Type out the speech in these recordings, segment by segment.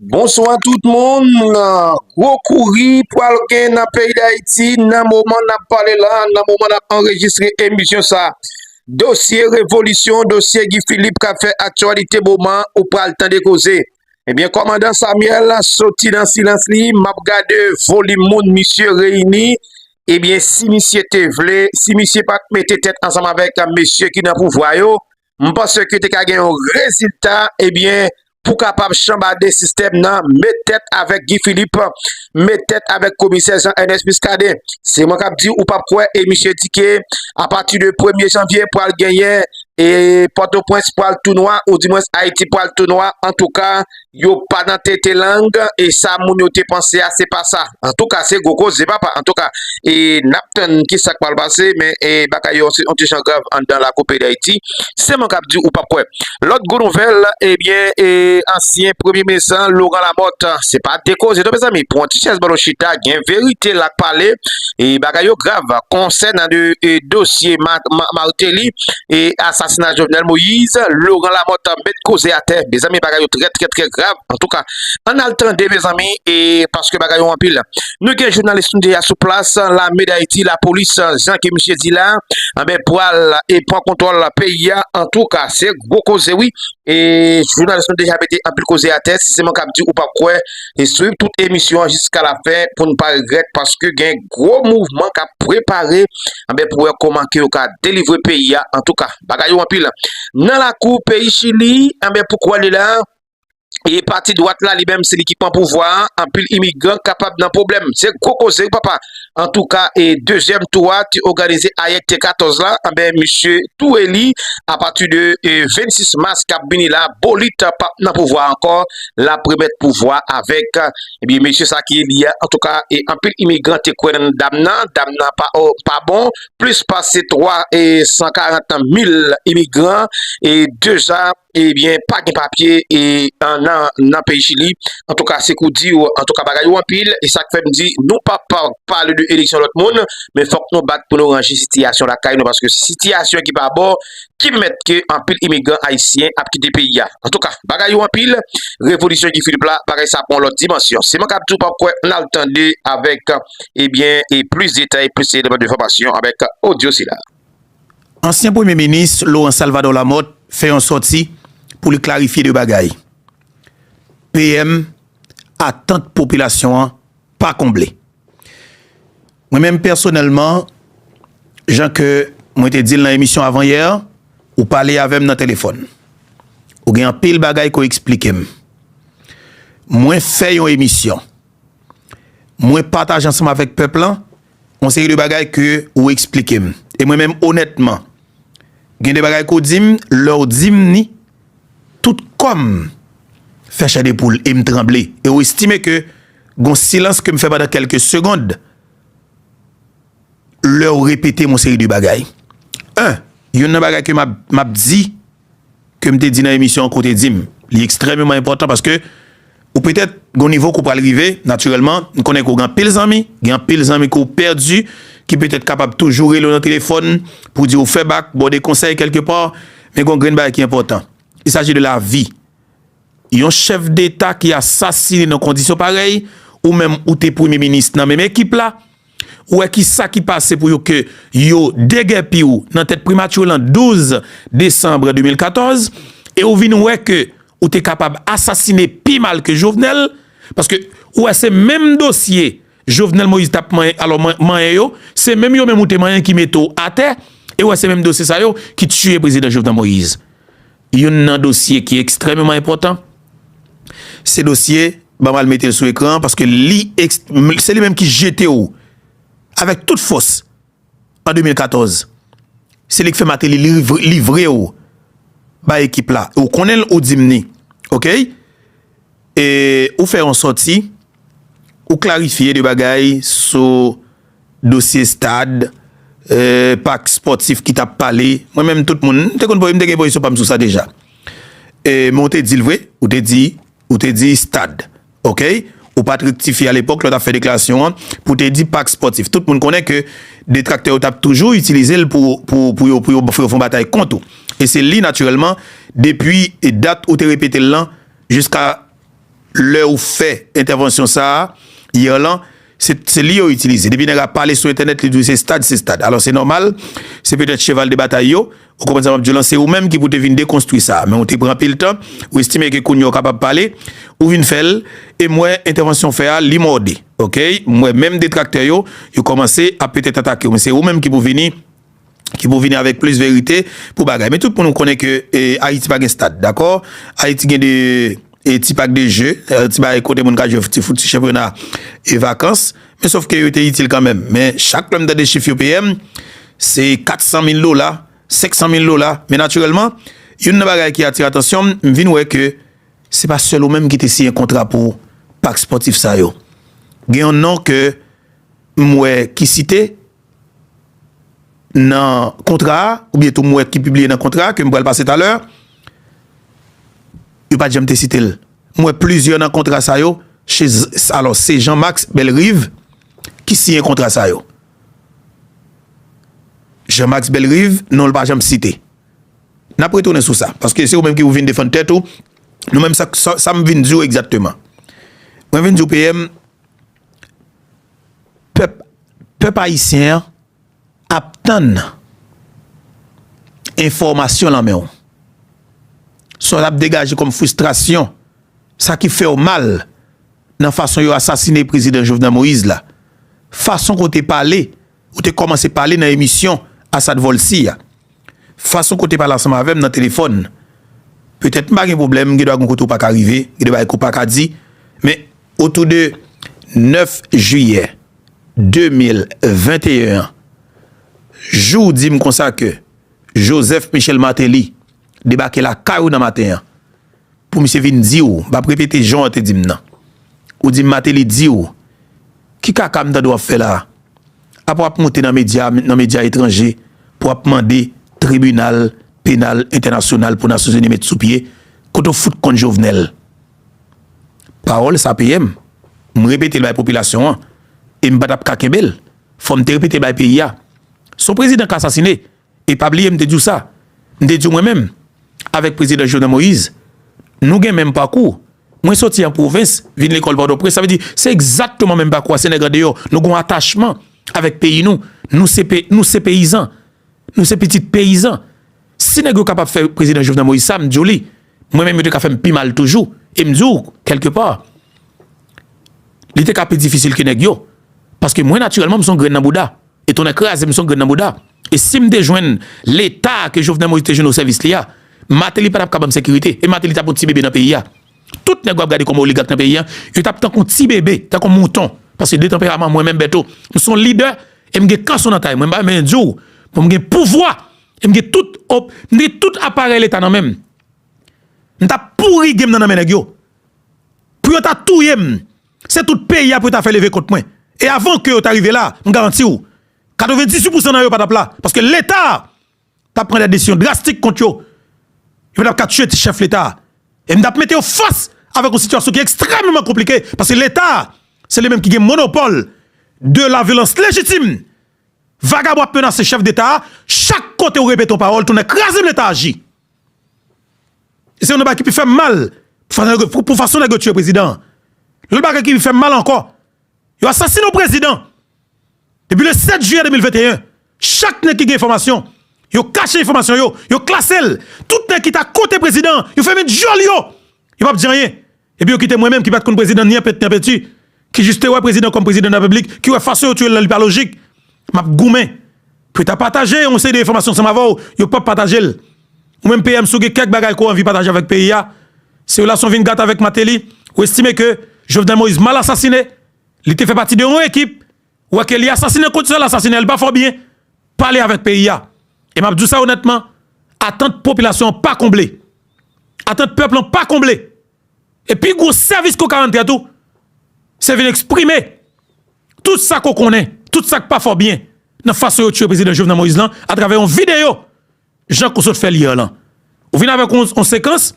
Bonswa tout moun, gwo kouri pral gen nan peyi Dayiti nan moman nap pale la, nan moman nap anrejistre emisyon sa. Dosye revolisyon, dosye Guy Philippe kap fè aktyalite moman ou pral tande koze. Ebyen eh kòmandan Samuel soti nan silans li, map gade volim moun misye reyini, ebyen eh si misye te vle, si misye pat mete tèt ansanm avèk mesye ki nan pouvwa yo, m panse ke te ka gen yon rezilta ebyen eh pou kapab chanbade sistèm nan met tèt avèk Guy Philippe met tèt avèk komisè Jean Ernest Muscadin se mwen kap di ou pap kwè e misye di ke apati de premye janvye pral genyen e pòtoprens pral tou nwa ou di mwens ayiti pral tou nwa antouka Yo pa nan tete lang e sa moun yo te panse a se pa sa. Antouka se gwo koze papa. Antouka e nap tann ki sak pral pase men e bagay yo se yon ti jan grav anndan lakou peyi Dayiti. Se mwen kap di ou pap kwè. Lòt gwo nouvèl ebyen e ansyen premye minis lan Laurent Lamothe se pa de koze non mezanmi pran yon ti chèz ba nou chita gen verite lak pale e bagay yo grav konsènan de dosye Martelly. e asasina Jovenel Moïse, Laurent Lamothe met koze atè mezanmi bagay yo trè trè trè grav antouka ann al tande mezanmi e paske bagay yo anpil nou gen jounalis nou deja sou plas lame dayiti lapolis jan ke misye di la anbe eh pwal e pwan kontwòl peyi a antouka se gwo koze wi e jounalis nou deja mete anpil koze atè si se mwen kap di ou pap kwè. e swiv tout emisyon an jiska la fen pou n pa regrèt paske gen gwo mouvman k ap prepare anben pou wè kòman ke yo ka delivre peyi a antouka bagay yo anpil nan lakou peyi chili anben pou kwè li la e pati dwat la li menm se li ki pran pouvwa anpil imigran kapab nan pwoblèm se gwo koze wi papa Antouka e dezyèm tou a te oganize ayè ki te 14 la, anben misye tou eli apati de 26 mas kap vini la bolit pap nan pouvwa ankò lap remèt pouvwa avèk ebyen mesye sa ki eli a antouka e anpil imigran te kwè nan dam nan, dam nan pa bon plis pase 3 e 140 mil imigran e 2 a. ebyen pa gen papye e nan peyi chili antouka se kou diw antouka bagay yo anpil e sak fèm di nou pa pale de eleksyon lòt moun men fòk nou bat pou nou ranje sitiyasyon lakay nou paske sitiyasyon ki pa bon ki mèt ke anpil imigran ayisyen ap kite peyi a antouka bagay yo anpil revolisyon ki filip la bagay sa pon lòt dimansyon se mwen kap di ou pa kwe nal tande avèk ebyen e plis detay plis eleman de fòmasyon avèk odyo sila. Ansyen premye minis Laurent Salvador Lamothe fè yon sòti pou li klarifye 2 bagay, PM atant popilasyon an pa konble. Mwen menm pèsonèlman jan ke mwen te dil nan emisyon avan yè, ou pale avèm nan telefòn, ou gen anpil bagay ke w eksplikem. Mwen fè yon emisyon, mwen pataje ansanm avèk pèp lan, On seri de bagay ke ou eksplike m. E mwen menm onètman, gen de bagay ke w di m, lè w di m ni, tout kò m fè chè de poul e m tranble. E w estime ke gon silans ke m fè pandan kèlke segond, lè w repete m on seri de bagay. 1, Youn nan bagay ke m ap di. ke m te di nan emisyon an ke w te di m. Li ekstrèmeman enpòtan paske ou petèt gen yon nivo ke w pral rive natirèlman, m konnen ke w gen anpil zanmi, gen anpil zanmi ke w pèdi ki petèt kapab toujou rele w nan telefòn pou di w fè bak, ba w de konsèy kèlke pa, men gen yon grenn bagay ki enpòtan, il s'agit de la vi. Yon chèf deta ki asasine nan kondisyon parèy, ou menm ou te premye minis nan menm ekip la, Ou wè ki sa ki pase pou yo ke yo degèpi ou nan tèt primati lan 12 desanbre 2014 e ou vin wè ke ou te kapab asasine pi mal ke Jovenel paske ou wè se menm dosye Jovenel Moïse tap manyen alò manyen yo se menm yo menm ou te manyen ki mete w atè e ou wè se menm dosye sa yo ki tiye prezidan Jovenel Moïse. Youn nan dosye ki ekstrèmeman enpòtan, se dosye, banm al mete l sou ekran an, paske li ekst, se li menm ki jete w avèk tout fòs an 2014. Se li k fè Mateli livre w bay ekip la. Ou konnen l, ou di m ni. Okey? E ou fè yon sòti. Ou klarifye 2 bagay sou dosye stad, pak spòtif ki tap pale. Mwen menm tout moun, m te konn voye, m te gen pozisyon pa m sou sa deja. Men ou te di l vre, ou te di, ou te di stad. Ok, ou pat rektifye a lepòk lè w tap fè deklarasyon an pou w te di pak spòtif. Tout moun konnen ke detraktè yo tap toujou itilize l pou, pou, pou yo, pou yo fè yon batay kont ou. E se li natirèlman depi dat ou te repete l lan jiska. Lè ou fè entèvansyon sa a, hier lan, se li yo itilize. Depi nèg a pale sou entènèt, li di w se stad, se stad. Alò se nòmal, se petèt cheval de batay yo. Ou konprann sa m ap di w lan? Se ou menm ki pou te vin dekonstwi sa a. Men ou te pran anpil tan, ou estime ke kounye a ou kapab pale, ou vin fè l. E m wè entèvansyon w fè a, li mòde. Oke? M wè menm detraktè yo, yo kòmanse ap petèt atake w. Men se ou menm ki pou vini. ki pou vini avèk plis verite pou bagay men tout moun konnen ke ayiti pa gen stad dakò ayiti gen 2 ti pak de je ti bagay kote moun ka jwe ti fout ti chanpyona e vakans men sof ke yo te itil kanmenm men chak lèm tande chif yo peyem se 400 mil dola 500 mil dola men natirèlman youn nan bagay ki atire atansyonm m vin wè ke se pa sèl ou menm ki te siyen kontra pou pak spòtif sa yo gen yon non ke m wè ki site. nan kontra a, oubyen tou m wè ki pibliye nan kontra a, ke m pral pase talè, yo pa t janm te site l. M wè plizyè nan kontra sa yo, alò se Jean Max Bellerive ki siyen kontra sa yo. Jean Max Bellerive, non l pa janm site. N ap retounen sou sa, paske se ou menm ki ou vin defann tèt ou, nou menm sa m vin di w egzakteman. Mwen vin di w PM. Pèp ayisyen an ap tann enfòmasyon lan men w. Sa w ap degaje kòm fristrasyon, sa ki fè w mal nan fason yo asasine prezidan Jovenel Moïse la, fason ke w te pale Ou te kòmanse pale nan emisyon Asad Volcy a. Fason ke w te pale ansanm avè m nan telefòn, petèt m pa gen pwoblèm, gen dwa gen kote ou pa ka rive, gen de bagay ke w pa ka di, men otou de 9 jiyè 2021 an, jou w di m konsa ke Joseph Michel Martelly debake lakay ou nan maten an, pou misye vin di w, m pa p repete jan w te di m nan, ou di m Martelly di w, Ki kaka m tande wap fè la? Apa wap moute nan medya nan medya etranje pou wap mande tribinal penal entènasyonal pou nasyonzini met sou pye kote w fout konn Jovenel? Pawòl sa peye m, m repete l bay popilasyon an e m pa tap ka kenbe l fò m te repete l bay peyi a. Se yon prezidan k asasine E pa bliye m te di w sa, m te di w mwen menm avèk Prezidan Jovenel Moïse nou gen menm pakou, mwen soti an pwovens vin lekòl Pòtoprens sa vle di se egzakteman menm pakou a se nèg andeyò nou gon atachman avèk peyi nou, nou se pe nou se peyizan, nou se pitit peyizan si nèg yo kapab fè Prezidan Jovenel Moïse sa m di w li mwen menm yo te ka fè m pi mal toujou e m di w kèlke pa li te ka pi difisil ke nèg yo paske mwen natirèlman m son grenn nan bouda. E tonnè kraze m son grenn nan bouda. E sim te jwenn leta ke Jovenel Moïse te jwenn o sèvis li a, Martelly patap ka banm sekirite e Martelly tap on ti bebe nan peyi a. Tout nèg wap gade kòm oligak nan peyi a, yo tap tankou on ti bebe, tankou on mouton. Paske de tanperaman mwen menm Bertho, m son lidè e m gen kanson nan tay mwen. M pa menm vin diw pou m gen pouvwa e m gen tout op, m gen tout aparèy leta nan menm. M tap pouri genm nan nan men nèg yo. Pou yo ta touye m. Se tout peyi a pou yo ta fè leve kont mwen. E avan ke yo ta rive la, m garanti ou, 98 pousan nan yo pa t ap la. Paske Leta a t ap pran dè desizyon drastik kont yo. Yo pa t ap ka tiye ti chèf Leta a. E m t ap mete yo fas avèk yon sitiyasyon ki ekstrèmeman konplike. Paske Leta a, se li menm ki gen monopòl de la vyolans lejitim. Vagabon ap menase chèf Deta a, chak kote ou repete yon pawòl, tounen kraze m Leta aji. Se yon nan bagay ki pi fè m mal pou fason nèg yo tiye prezidan an. Lòt bagay ki pi fè m mal ankò, yo asasine yon prezidan depi le 7 jiyè 2021, chak nèg ki gen enfòmasyon, yo kache enfòmasyon yo, yo klase l, tout nèg ki ta kote prezidan an, yo fèmen dyòl yo, yo p ap di anyen. Epi yo kite mwen menm ki pat konn prezidan ni anpèt ni anpèti, ki jis te wè prezidan kòm prezidan de la repiblik, ki wè fason yo tiyel la li pa lojik, map goumen pou yo ta pataje yon seri de enfòmasyon ansanm avèw, yo pap patajel. Ou menm PM si w gen kèk bagay ke w anvi pataje avèk peyi a, si relasyon w vin gate avèk Mateli, ou estime ke Jovenel Moïse mal asasine, li te fè pati de yon ekip, Ou wè ke li asasinen kont sa l asasinen, li pa fè w byen. Pale avèk peyi a. E m ap di w sa onètman, atant popilasyon an pa konble. Atant pèp lan pa konble. E pi gwo sèvis ke w ka rann tèt ou, se vin eksprime tout sa ke w konnen, tout sa k pa fè w byen nan fason yo tiye Prezidan Jovenel Moïse lan atravè yon videyo. Jan ke w sot fè l hier lan. Ou vin avèk yon sekans,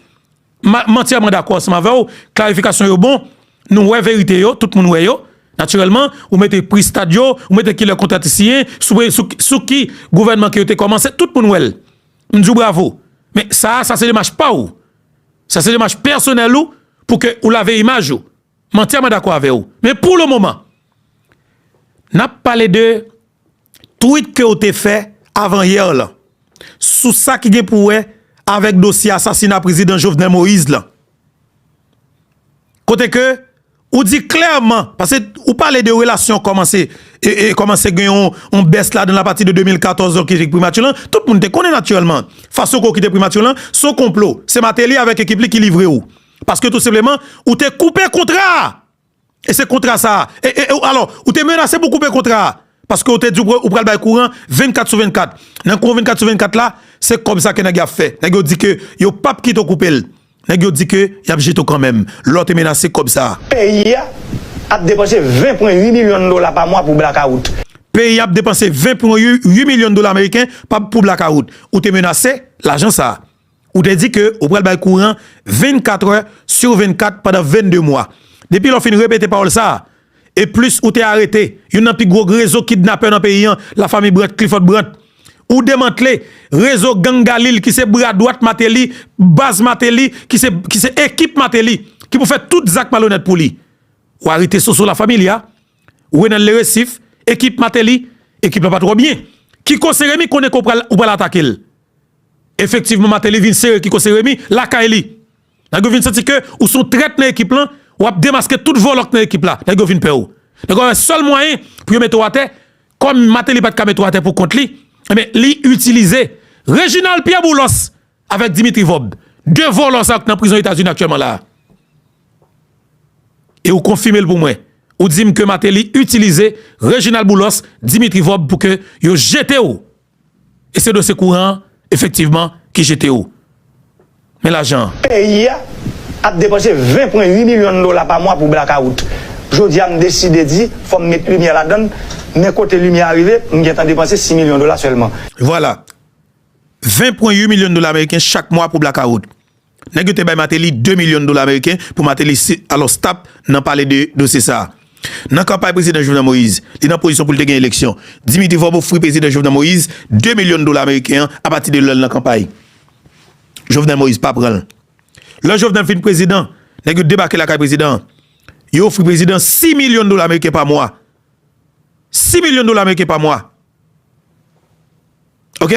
m antyèman dakò ansanm avè w, klarifikasyon yo bon, nou wè verite yo, tout moun wè yo, natirèlman, ou mete pri stad yo, ou mete ki lè kontra te siyen, sou ki gouvènman ke yo te kòmanse, tout moun wè l. M di w bravo. Men sa a, sa se demach pa w. Sa se demach pèsonèl ou pou ke ou lave imaj ou. M antyèman dakò avè w. Men pou le moman, n ap pale de. Tweet ke w te fè avan yè lan sou sa ki gen pou wè avèk dosye asasina Prezidan Jovenel Moïse lan. Kote ke ou di klèman, pase ou pale de relasyon kòmanse kòmanse gen yon bès ladan l apati de 2014 lan ki te primati lan, tout moun te konnen natirèlman fason ke w kite primati lan se yon konplo, se Martelly avèk ekip li ki livre w. Paske tou senpleman ou te koupe kontra a E se kontra sa a. E, e, e, alò, ou te menase pou koupe kontra a. Paske ou te di ou pral bay kouran 24 sou 24. Nan kouran 24 sou 24 la, se kòb sa ke nèg yo ap fè. Nèg yo di ke yo p ap kite ou koupe l. Nèg yo di ke y ap jete ou kanmenm. Lè ou te menase kòb sa a. Peyi a ap depanse 20 pwen 8 milyon dola pa mwa pou blakawout. Peyi a ap depanse 20 pwen 8 milyon dola ameriken pa pou blakawout. Ou te menase lajan sa a. Ou te di ke ou pral bay kouran 24 è sur 24 pandan 22 mwa. Depi lè ou fin repete pawòl sa a, e plis ou te arete youn nan pi gwo rezo kidnapè nan peyi an, la Famille Brandt, Clifford Brandt. Ou demantle rezo gang Galil ki se bra dwat Martelly, baz Martelly, ki se ekip Martelly, ki pou fè tout zak malonèt pou li. Ou arete Soso La Familia, Renel Le Récif, ekip Martelly, ekip la pa twò byen. Kiko Seremi konnen ke ou pral atake l. Efektivman Martelly vin sere Kiko Seremi lakay li. Nèg yo vin santi ke ou son trèt nan ekip lan, w ap demaske tout vòlò k nan ekip la. Nèg yo vin pè w. Nèg yo wè sèl mwayen pou yo mete w atè, kòm Martelly pa t ka mete w atè pou kont li, enben li itilize Reginald Pierre Boulos avèk Dimitri Vorbe. 2 vòlò sa yo k nan prizon Etazini aktyèlman la a. E ou konfime l pou mwen. Ou di m ke Martelly itilize Reginald Boulos, Dimitri Vorbe pou ke yo jete w E se dosye kouran an efektivman ki jete ou. Men lajan an. Peyi a ap depanse 20 pwen 8 milyon dola pa mwa pou blakawout. Jodi a m deside di fò m met limyè ladan l, men kote limyè a rive, m gentan depanse 6 milyon dola sèlman. Vwala! 20 pwen 8 milyon dola ameriken chak mwa pou blakawout. Nèg yo te bay Mateli 2 milyon dola ameriken pou Mateli si alos tap nan pale de dosye sa a. Nan kanpay prezidan Jovenel Moïse, li nan pozisyon pou li te gen eleksyon. Dimitri Vorbe ofri prezidan Jovenel Moïse 2 milyon dola ameriken an apati de lè l nan kanpay. Jovenel Moïse pa pran l. Lè Jovenel fin prezidan, nèg yo debake lakay prezidan an. Yo ofri prezidan 6 milyon dola ameriken pa mwa. 6 milyon dola ameriken pa mwa. Ok?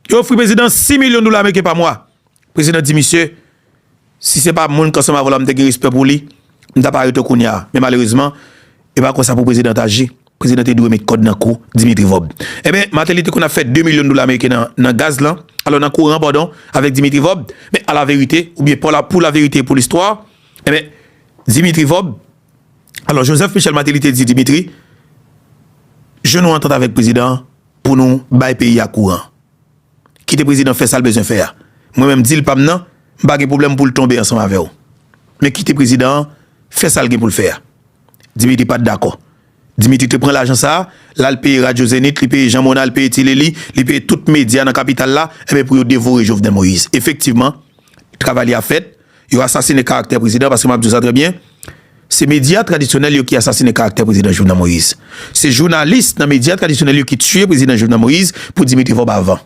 Yo ofri prezidan 6 milyon dola ameriken pa mwa. Prezidan di misye, Si se pa moun kansanm avè w la m te gen respè pou li, m ta pa rete kounya a. Men malerezman, e pa konsa pou prezidan t aji. Prezidan te dwe met kòd nan kou Dimitri Vob. Enben, Mateli te konn ap fè 2 milyon dola ameriken nan gaz lan, alò nan kouran padon, avèk Dimitri Vob. Men alaverite, oubyen pou laverite e pou listwa, enben, Dimitri Vob, Alò Joseph Michel Martelly te di Dimitri, Je nou antant avèk prezidan an pou nou bay peyi a kouran. Kite prezidan fè sa l bezwen fè a. Mwen menm dil pa m nan, m pa gen pwoblèm pou l tonbe ansanm avè w. Men kite prezidan an fè sa l gen pou l fè a. Dimitri pa t dakò. Dimitri te pran lajan sa a, l al peye radyo Zenith, li peye Jean Mona, li peye Tilelli, li peye tout medya nan kapital la, enben pou yo devore Jovenel Moïse. Efektivman, travay li a fèt, Yo asasine karaktè prezidan paske map di w sa trè byen, se medya tradisyonèl yo ki asasine karaktè prezidan Jovenel Moïse. Se jounalis nan medya tradisyonèl yo ki tiye prezidan Jovenel Moïse pou Dimitri Vorbe avan.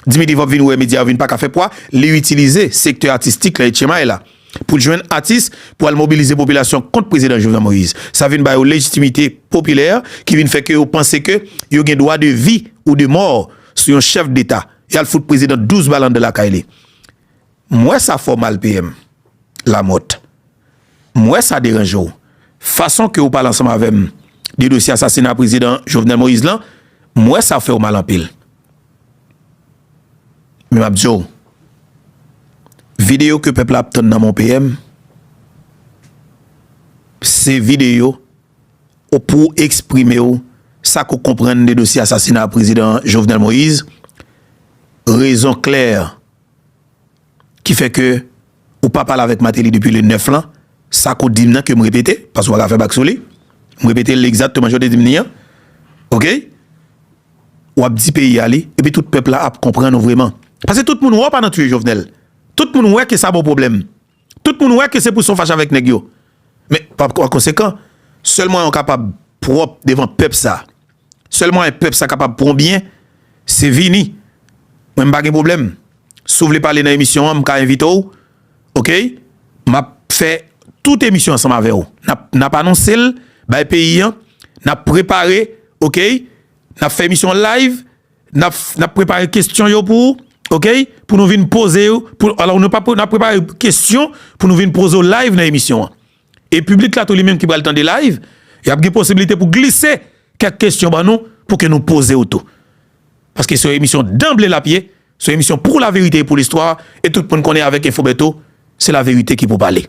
Dimitri Vorbe vin wè medya yo vin paka fè pwa, li itilize sektè atistik la etchemay la pou l jwenn atis pou al mobilize popilasyon kont prezidan Jovenel Moïse. Sa vin ba yo lejitimite popilè ki vin fè ke yo panse ke yo gen dwa de vi ou de mò sou yon chèf deta. Yal fout prezidan 12 bal anndan lakay li. M wè sa fè w mal PM Lamothe. M wè sa deranje w. Fason ke ou pale ansanm avè m de dosye asasina Prezidan Jovenel Moïse lan, m wè sa fè w mal anpil. Men m ap di w, videyo ke pèp la ap tann nan men w PM, se videyo ou pou w eksprime w sa ke w konprann de dosye asasina Prezidan Jovenel Moïse, rezon klè ki fè ke ou pa pale avèk Mateli depi le 9 lan, sa ke w di m nan ke m repete, paske w pa ka fè bak sou li, m repete l egzakteman jan w te di m li an, ok, w ap di peyi a li, epi tout pèp la ap konprann ou vreman. Paske tout moun wè w pa nan tiye Jovenel, tout moun wè ke sa ba w pwoblèm, tout moun wè ke se pou sa w fache avèk nèg yo, men pa konsekan, sèl mwayen w kapab pwòp devan pèp sa, Sèl mwayen pèp sa kapab pwan byen se vini mwen m pa gen pwoblèm si w vle pale nan emisyon an m ka envite w ok m ap fè tout emisyon ansanm avè w n ap anonse l bay peyi an n ap prepare ok n ap fè emisyon an live n ap prepare kesyon yo pou ok pou nou vin poze yo n ap prepare kesyon pou nou vin poze w live nan emisyon an. E piblik la tou li menm ki pral tande live, y ap gen posibilite pou glise kèk kesyon ban nou pou ke nou poze yo tou. Paske se yon emisyon danble l ap ye, se yon emisyon pou laverite e pou listwa, e tout moun konnen avèk Enfo Bèto, se laverite ki pou pale.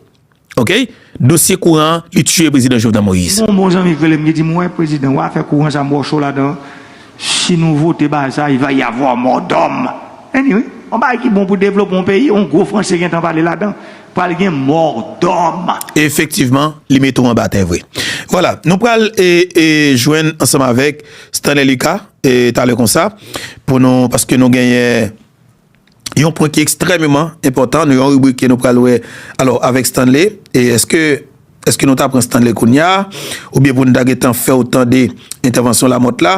Ok! Dosye kouran an, li tiye Prezidan Jovenel Moïse. M gen yon bon zanmi k rele m ki di m, wè Prezidan, w afè kouran sa m wè w cho ladan an. Si nou vote Baza, il va y avoir mort d'homme. Any wi, yon bagay ki bon pou devlopman yon peyi, yon gwo franse gen tan pale ladan, pral gen mort d'homme. Efektivman, li mete w anba tè vre. Vwala, nou pral jwenn ansanm avèk Stanley Lucas talè konsa pou nou, paske nou genyen. yon pwen ki ekstrèmeman enpòtan nan yon ribrik ke nou pral wè alò avèk Stanley e èske èske nou ta pran Stanley kounya oubyen pou nou ta gentan fè ou tande entèvansyon Lamòt la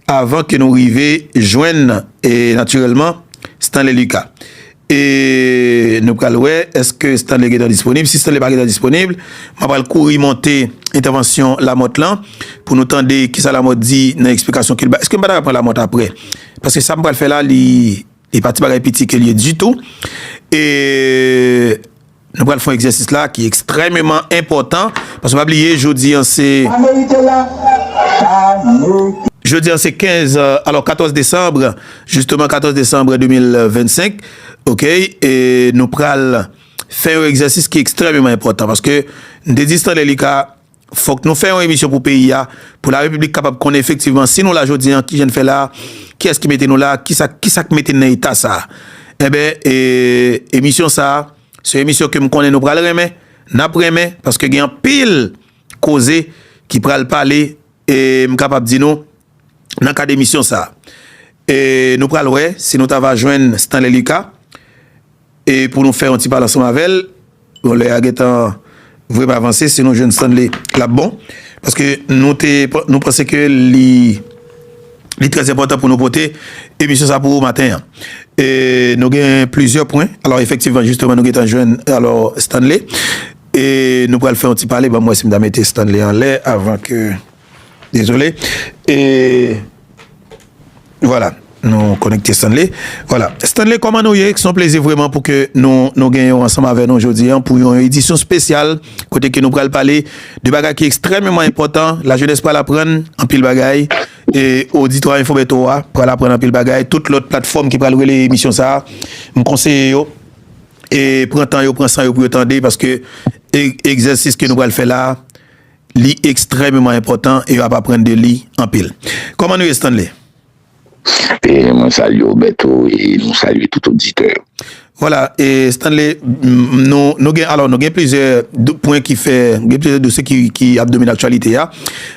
avan ke nou rive jwenn e natirèlman Stanley Lucas e nou pral wè èske Stanley gentan disponib si Stanley pa gentan disponib mwen pral kouri monte entèvansyon Lamòt lan pou nou tande kisa Lamòt di nan eksplikasyon ke l bay èske m pa ta pran Lamòt aprè. Paske sa m pral fè la li li pa ti bagay piti ke l ye ditou. E nou pral fè yon egzèsis la ki ekstrèmeman enpòtan. Paske pa bliye jodi an se jodi an se 15 alò 14 desanm jisteman 14 desanm 2025 ok e nou pral fè yon egzèsis ki ekstrèmeman enpòtan paske m te di Stanley li ka Fòk nou fè yon emisyon pou peyi a, pou la repiblik kapab konnen efektivman si nou la jodi an, kijan n fè la, kiyès ki mete nou la, kisa kisa k mete n nan eta sa. Enben e emisyon sa a, se yon emisyon ke m konnen nou pral renmen, n ap renmen, paske gen anpil koze ki pral pale e m kapab di nou nan kad emisyon sa a. E nou pral wè si nou ta va jwenn Stanley Lucas. E pou nou fè yon ti pale ansanm avè l, bon lè a gen tan vre m avanse si nou jwenn Stanley l ap bon paske nou te nou panse ke li li trè enpòtan pou nou pote emisyon sa pou ou maten an. E nou gen plizyè pwen alò efektivman jisteman nou gen tan jwenn alò Stanley e nou pral fè yon ti pale ban m wè si m ta mete Stanley anlè avan ke. Dezole e Vwala nou konekte Stanley Vwala Stanley kòman nou ye son plezi vweman pou ke nou nou gen yon ansanm avè nou jodi an pou yon edisyon spesyal kote ke nou pral pale de bagay ki ekstrèmeman enpòtan la jenès pral aprann anpil bagay e oditwa enfo beto a pral aprann anpil bagay tout lòt platfòm ki pral rele emisyon sa a m konseye yo e pran tan yo pran san yo pou yo tande paske egzèsis ke nou pral fè la a. Li ekstrèmeman enpòtan e yo ap aprann de li anpil. Kòman nou ye Stanley? Mwen salye w Bertho e nou salye tout oditè yo. Vwala e Stanley, nou gen alò nou gen plizyè pwen ki fè, gen plizyè dosye ki ap domine aktyalite a.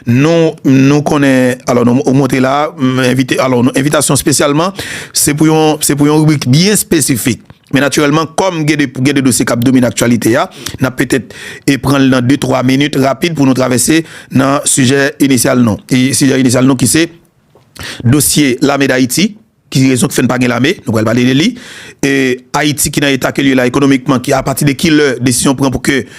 Nou konnen, alò nou montre la, envite, alò envitasyon spesyalman, se pou yon, se pou yon ribrik byen spesifik. Men natirèlman, kòm gen de gen de dosye k ap domine aktyalite a, n ap petèt pran l nan de twa minit rapid pou nou travèse nan sijè inisyal nou. E sijè inisyal nou ki se dosye lame Dayiti, ki rezon ki fè n pa gen lame, nou pral pale de li, e Ayiti ki nan eta ke l ye la ekonomikman, ki apati de ki lè desizyon pran pou ke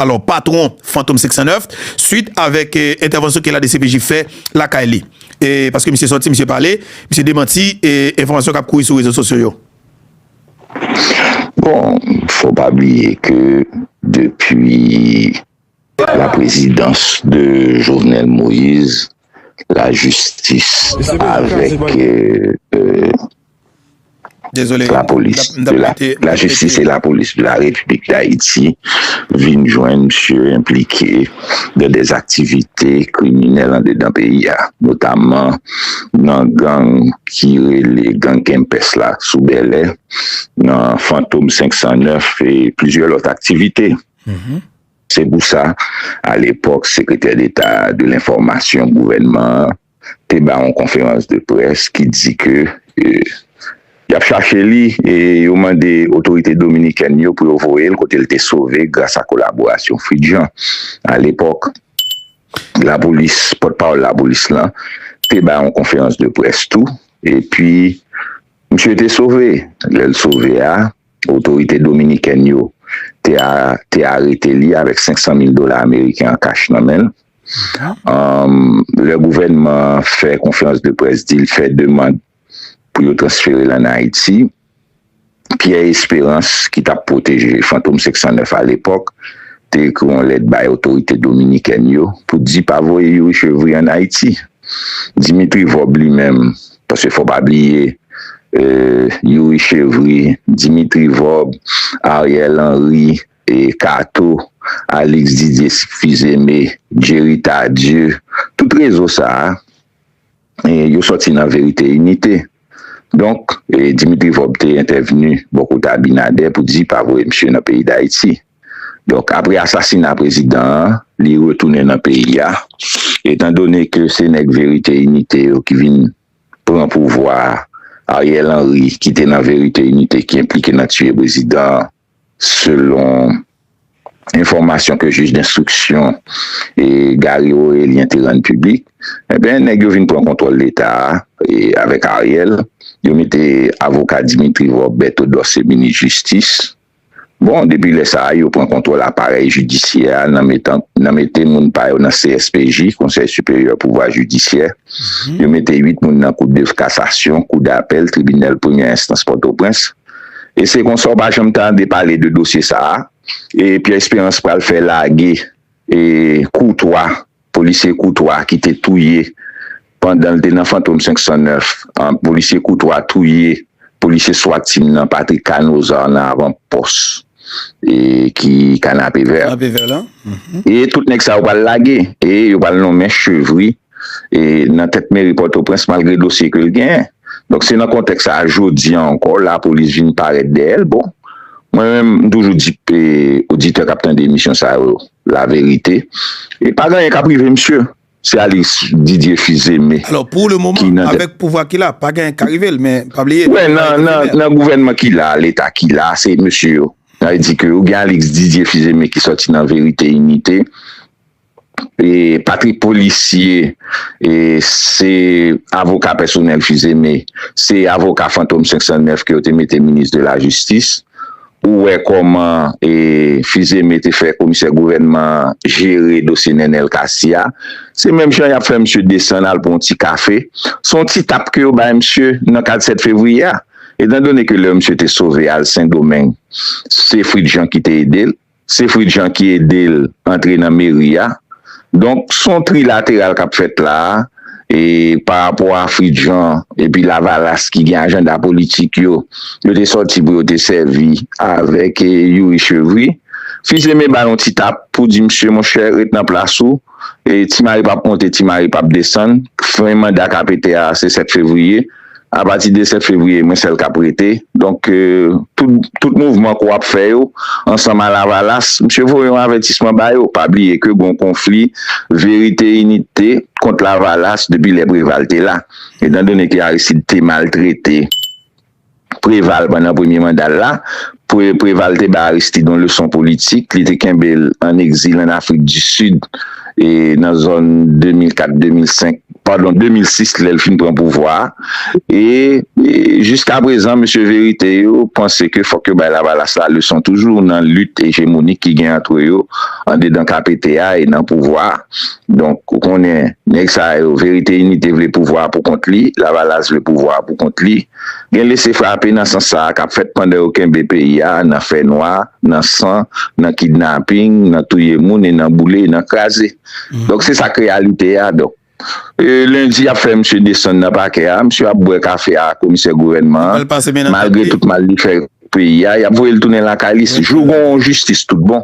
Alò patwon Fantom 509 swit avèk entèvansyon ke la dcpj fè lakay li. E paske misye sòti misye pale, misye demanti enfòmasyon kap kouri sou rezo sosyo yo. Bon, fò pa bliye ke depi la prezidans de Jovenel Moïse, la jistis avèk. La polis de la, la jistis e la polis de la Repiblik Dayiti vin jwenn msye enplike nan de aktivite kriminèl andedan peyi a, notaman nan gang ki rele gang Kempès la sou Bèlè, nan Fantom 509 e plizyè lòt aktivite. Se pou sa, alepòk, Sekretè Deta de Lenfòmasyon gouvènman an, te bay yon konferans de près ki di ke y ap chache li e yo mande otorite dominikèn yo pou yo voye l kote l te sove gras a kolaborasyon Fridjan. A lepòk, lapolis, pòtpawòl lapolis lan te bay yon konferans de près tou epi misye te sove. Lè l sove a, otorite dominikèn yo te arete li avèk 500 mil dola ameriken an kach nan men l. Lè gouvènman an fè konferans de près di l fè demand pou yo transfere l ann Ayiti, Pierre Espérance, ki t ap pwoteje Fantom 509 alepòk, te ekri yon lèt bay otorite dominikèn yo pou di pa voye Youri Chevry ann Ayiti. Dimitri Vorbe li menm, paske fò w pa bliye, Youri Chevry, Dimitri Vorbe, Ariel Henry, Kato, Alix Didier Sykphizeme, Jerry Tardieu, tout rezo sa a yo sòti nan Verite Inite. Donk, Dimitri Vorbe te entèvni bò kote Abinader pou di pa voye misye nan peyi Dayiti. Donk, apre asasina prezidan an, li retounen nan peyi a. Etan done ke se nèg Verite Inite yo ki vin pran pouvwa a, Ariel Henry ki te nan Verite Inite ki enplike nan tiye prezidan an, Selon enfòmasyon ke jij denstriksyon Garry Orélien te rann piblik, enben nèg yo vin pran kontwòl leta a avèk Ariel, yo mete avoka Dimitri Vorbe Berthodorce se minis jistis. Bon, depi lè sa a yo pran kontwòl aparèy jidisyè a nan mete moun pa yo nan CSPJ, Konsèy Siperyè Pouvwa Jidisyè, yo mete 8 moun nan Kou de Kasasyon, Kou Dapèl, Tribinal Premyè Enstans Pòtoprens. E se konsa w pa janm tande pale de dosye sa a. E Pierre Espérance pral fè lage e Koutwa, polisye Koutwa ki te touye pandan l te nan Fantom 509 an, polisye Koutwa touye polisye swat team nan Patrick Canozar nan avan pòs e ki Kanapevè. E tout nèg sa yo pral lage e yo pral nonmen Chevry e nan tèt meri Pòtoprens malgre dosye ke l genyen. Donk se nan kontèks sa a jodi an ankò lapolis vin parèt dèyè l. Bon, mwen menm m toujou di oditè k ap tande emisyon sa yo laverite, e pa gen anyen k ap rive msye. Se Alix Didier Fils Aimé ki nan tèt. Alò pou lemoman avèk pouvwa ki la pa gen anyen k ka rive l men pa bliye. Wè nan gouvènman ki la a, leta ki la a se mesye yo. Sa vle di ke ou gen Alix Didier Fils Aimé ki sòti nan Verite Inite. E Patrick polisye e se avoka pèsonèl fizeme se avoka fantom 509 ke yo te mete minis de la jistis ou wè kòman e fizeme te fè komisè gouvènman jere dosye nènèl kasi a se menm jan yap fè misye desann al pou yon ti kafe se yon ti tap ke yo bay misye nan kad 7 fevriye a etan done ke lè misye te sove al sendomeng se fritjan ki te edel. Se Frid Jean ki ede l antre nan meri a. Donk, s on trilateral k ap fèt la a e pa rapò a Frid Jean epi Lavalas ki gen ajanda politik yo, yo te sòti pou yo te sèvi avèk Youri Chevry. Fils Aimé ba l on ti tap pou di misye monchè ret nan plas ou. Ti Mari p ap monte, Ti Mari p ap desann. Fen manda KPT a se 7 fevriye. Apati de 7 fevriye, mwen sèl k ap rete. Donk, tout mouvman ke w ap fè yo, ansanm a Lavalas, misye voye yon avètisman ba yo. Pa bliye ke gen yon konfli verite-inite kont Lavalas depi lè Preval te la. Etandone ke Aristide te maltrete. Preval pandan premye manda l la. Preval te bay Aristide yon leson politik, li te kenbe l an egzil an Afrik di Sid e nan zòn 2004, 2005, padon 2006 lè l fin pran pouvwa a. E jiska prezan mesye verite yo panse ke fòk yo bay Lavalas la leson toujou nan lit ejemonik ki gen antre yo andedan KPT a e nan pouvwa a. Donk ou konnen nèg sa yo verite inite vle pouvwa pou kont li, lavalas vle pouvwa pou kont li. Gen lese frape nan sans sa kap fèt pandan yo kenbe peyi a nan fè nwa, nan san, nan kidnaping, nan touye moun e nan boule e nan kraze. Donk se sak reyalite a donk. Lendi yap fè misye desann nan pakè a, misye ap bwè kafe a komisè gouvènman an malgre tout mal li fè. Peyi a, y ap voye l tounen lakay li jou gen yon jistis tout bon.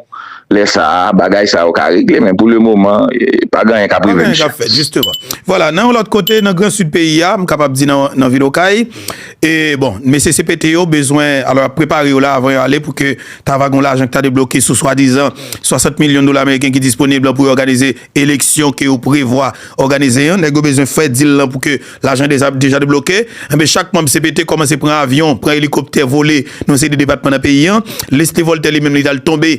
Lè sa a, bagay sa yo ka regle men pou lemoman, pa gen anyen k ap rive misye. Pa gen anyen k ap fèt, jisteman. Vwala, nan yon lòt kote, nan gran sid peyi a, m kapab di nan vil Okay, e bon, mesye CPT yo bezwen, alò y ap prepare yo la avan yo ale pou ke ta va gen yon lajan ki ta debloke sou swadizan 60 milyon dola meriken ki disponib lan pou yo òganize eleksyon ke yo prevwa òganize an. Nèg yo bezwen fè dil lan pou ke Lajan deja debloke, enben chak manb cpt kòmanse pran avyon, pran elikoptè vole nan yon seri de depatman nan peyi an. Leslie Voltaire li menm li t al tonbe.